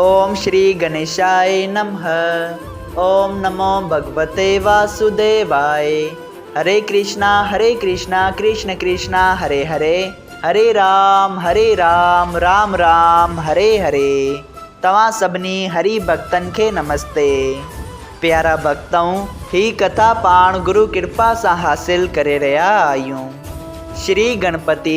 اوم شري گنيشائي نمه اوم نمو ڀڳوتي واسوديوائي هري ڪرشنا هري ڪرشنا ڪرشن ڪرشنا هري هري هري رام هري رام رام رام هري هري توهان سڀني هري ڀڳتن کي نمستي پيارا ڀڳتؤن هي ڪٿا پاڻ گرو ڪرپا سان حاصل ڪري رهيا آهيون شري گڻپتي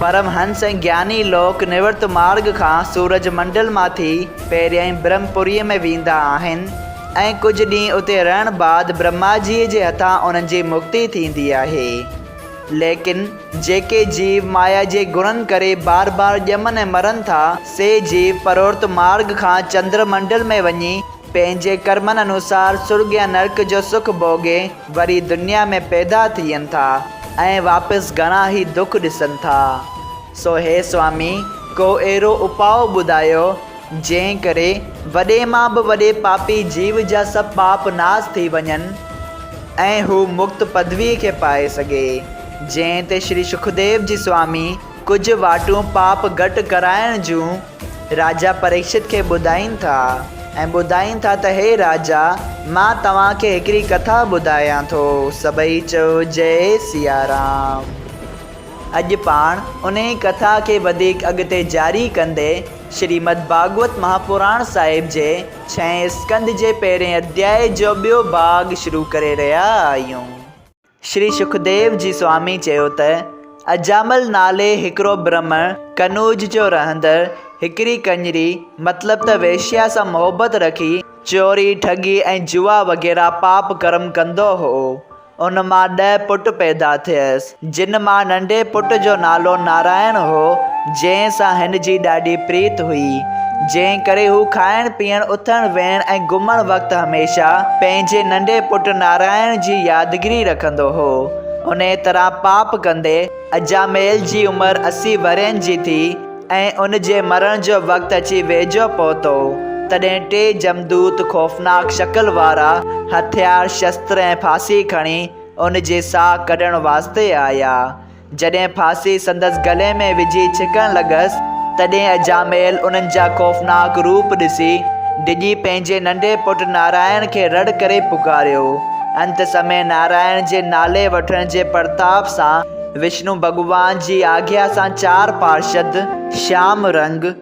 پرمهنس ۽ گياني لوڪ نورت مارڳ کان سورج منڊل مان ٿي پهريائين برهم پوريء ۾ ويندا آهن ۽ ڪجهه ڏينهن اتي رهڻ بعد برهما جيء جي هٿان انهن جي مڪتي ٿيندي آهي. ليڪن جيڪي جيو مايا جي گڻن ڪري بار بار ڄمن ۽ مرن ٿا، سي جيو پرورت مارڳ کان چندر منڊل ۾ وڃي، پنهنجي ڪرمن انوسار سرڳ يا نرڪ جو سک ڀوڳي وري دنيا ۾ پيدا ٿين ٿا ۽ واپس گهڻا ئي دک ڏسن ٿا. سو هي سوامي ڪو اهڙو اپاء ٻڌايو جنهن ڪري وڏي مان به وڏي پاپي جيو جا سڀ پاپ ناس ٿي وڃن ۽ هو مڪت پدويء کي پائي سگهي. جنهن تي شري سکديو جي سوامي ڪجهه واٽون پاپ گهٽ ڪرائڻ جون راجا پريڪشت کي ٻڌائين ٿا ۽ ٻڌائين ٿا ته هي راجا مان توهان کي هڪڙي ڪٿا ٻڌايان ٿو. سڀئي چيو جئي سيارام. اڄ پاڻ انهي ڪٿا کي وڌيڪ اڳتي جاري ڪندي شريمد ڀاڳوت مهاپراڻ صاحب جي ڇهين اسڪنڌ جي پهرين اڌيائي جو ٻيو ڀاڳ شروع ڪري رهيا آهيون. شري سکديو جي سوامي چيو ته اجامل نالي هڪڙو برهمڻ قنوج جو رهندڙ هڪڙي ڪڃري مطلب ته ويشيا سان محبت رکي چوري، ٺڳي ۽ جوا وغيره پاپ ڪرم ڪندو هو. ان مان ڏهه پٽ پيدا ٿيس، جن مان ننڍي پٽ جو نالو نارائڻ هو، جنهن سان هن جي ڏاڍي پريت هئي، جنهن ڪري هو کائڻ پيئڻ، اٿڻ ويهڻ ۽ گهمڻ وقت هميشه پنهنجي ننڍي پٽ نارائڻ جي يادگيري رکندو هو. انهيء طرح پاپ ڪندي اجاميل جي عمر اسي ورهين جي ٿي ۽ ان جي مرڻ جو وقت اچي ويجهو پهتو، تڏهن ٽي جمدوت خوفناڪ شڪل وارا هٿيار، شستر ۽ ڦاسي کڻي ان جي ساهه ڪڍڻ واسطي آيا. جڏهن ڦاسي سندس گلي ۾ وجهي ڇڪڻ لڳس، تڏهن اجاميل انهن جا خوفناڪ روپ ڏسي، ڊڄي پنهنجي ننڍي پٽ نارائڻ کي رڙ ڪري پڪاريو. انت سمي نارائڻ جي نالي وٺڻ جي پرتاپ سان وشنو ڀڳوان جي آگيا سان چار پارشد، شيام رنگ،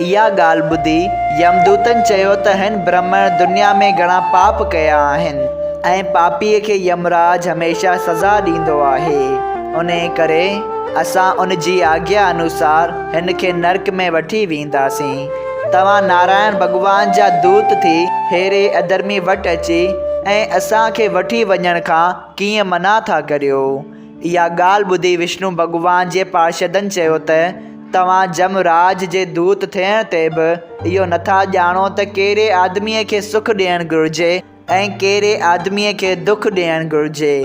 اها ڳالهه ٻڌي يمدوتن چيو ته هن برهمڻ دنيا ۾ گهڻا پاپ ڪيا آهن ۽ پاپيء کي يمراج هميشه سزا ڏيندو آهي. انهيء ڪري اسان ان جي آگيا انوسار هن کي نرڪ ۾ وٺي وينداسين. توهان نارائڻ ڀڳوان جا دوت ٿي ههڙي اڌرمي وٽ اچي ۽ اسان کي وٺي وڃڻ کان ڪيئن منع ٿا ڪريو؟ اها ڳالهه ٻڌي وشنو ڀڳوان جي پارشدن چيو ته، توهان جم راج جي دوت ٿيڻ تي به اهو نٿا ڄاڻو ته ڪهڙي آدميء کي سک ڏيڻ گهرجي ۽ ڪهڙي آدميء کي دک ڏيڻ گهرجي.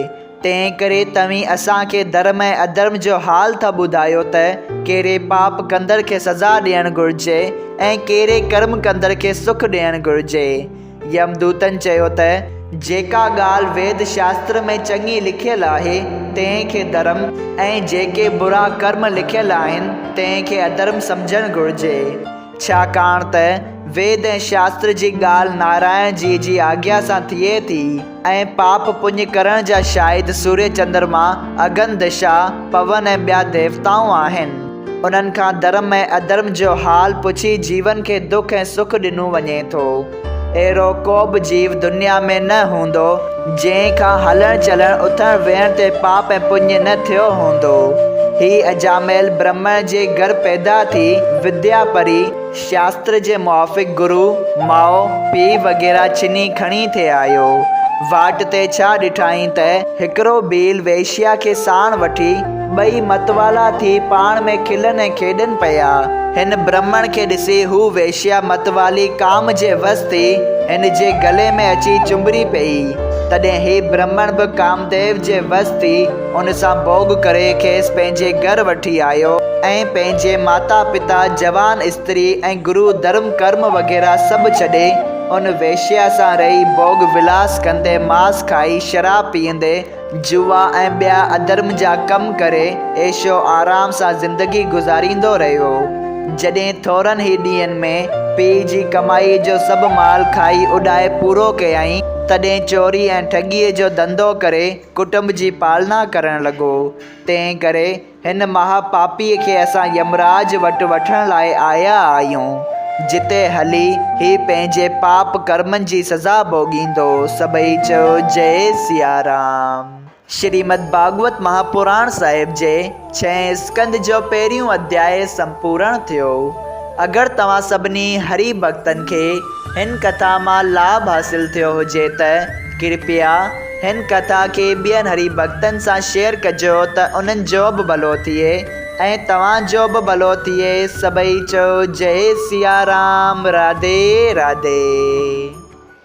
تنهنڪري توهين اسان کي ڌرم ۽ اڌرم جو حال ٿا ٻڌايو ته ڪهڙي پاپ ڪندڙ کي سزا ڏيڻ گهرجي ۽ ڪهڙي ڪرم ڪندڙ کي سک ڏيڻ گهرجي. يمدوتن چيو ته، جيڪا ڳالهه ويد شاستر ۾ چڱي لکيل آهي، تنهن کي ڌرم ۽ جيڪي برا ڪرم لکيل آهن، تنهن کي اڌرم سمجهڻ گهرجي. ڇاڪاڻ ته ويد ۽ شاستر جي ڳالهه نارائڻ جيء جي آگيا سان ٿئي ٿي. ۽ پاپ پڃ ڪرڻ جا شاهد سوريه چندرما، اگن، دشا، پون ۽ ٻيا ديوتائون آهن. انهن کان ڌرم ۽ اڌرم جو حال پڇي جيون کي دک ۽ سک ڏنو وڃي ٿو. اهڙو ڪوبه جيو دنيا ۾ نه هوندو جنهن کان هلڻ چلڻ اٿڻ ويهڻ تي پاپ ۽ پڃ نه ٿيو هوندو. هي اجاميل برهمڻ جي گهر پيدا ٿي وديا پري. شاستر جي موافق گرو، ماء، پيء وغيره چني کڻي ٿي آيو. واٽ تي ڇا ڏٺائين ته هڪڙو ڀيل ويشيا کي ساڻ وٺي ٻئي متوالا ٿي پاڻ ۾ کلن ۽ کيڏن پيا. هن برهمڻ کي ڏسي هو ويشيا متوالي ڪام جي وس ٿي هن جي گلي ۾ اچي چنبڙي پيئي. تڏهن هي برهمڻ به ڪامديو جي وس ٿي ان سان ڀوڳ ڪري کيس پنهنجي گهر وٺي آيو ۽ پنهنجي ماتا پتا، جوان استري ۽ گرو ڌرم ڪرم وغيره سڀ ڇڏي ان ويشيا سان رهي ڀوڳ ولاس ڪندي ماس کائي شراب پيئندي جوا ۽ ٻيا اڌرم جا ڪم ڪري عيش و آرام سان زندگي گذاريندو رهيو جڏهن ٿورن هي ڏينهن ۾ پيء جي ڪمائي جو سڀ مال کائي اڏائي پورو ڪيائين تڏهن چوري ۽ ٺڳيء جو ڌنڌو ڪري ڪٽنب جي پالنا ڪرڻ لڳو، تنهن ڪري هن مها پاپيء کي اسان يمراج وٽ وٺڻ لاء آيا آهيون، جتي هلي هي پنهنجي پاپ ڪرمن جي سزا ڀوڳيندو. سڀئي چيو جئي سيارام. شريمد ڀاڳوت مهاپراڻ صاحب جي. ڇهين اسڪند جو پهريون اڌياء سمپورڻ ٿيو. اگر توهان سڀني هري ڀڳتن کي هن ڪٿا مان لاڀ حاصل ٿيو هجي ته ڪرپيا هن ڪٿا کي ٻين هري ڀڳتن سان شيئر ڪجو ته انهن جو به ڀلو ٿئي ۽ توهان جو به ڀلو ٿئي سڀئي چئو جئي سيارام راڌي راڌي.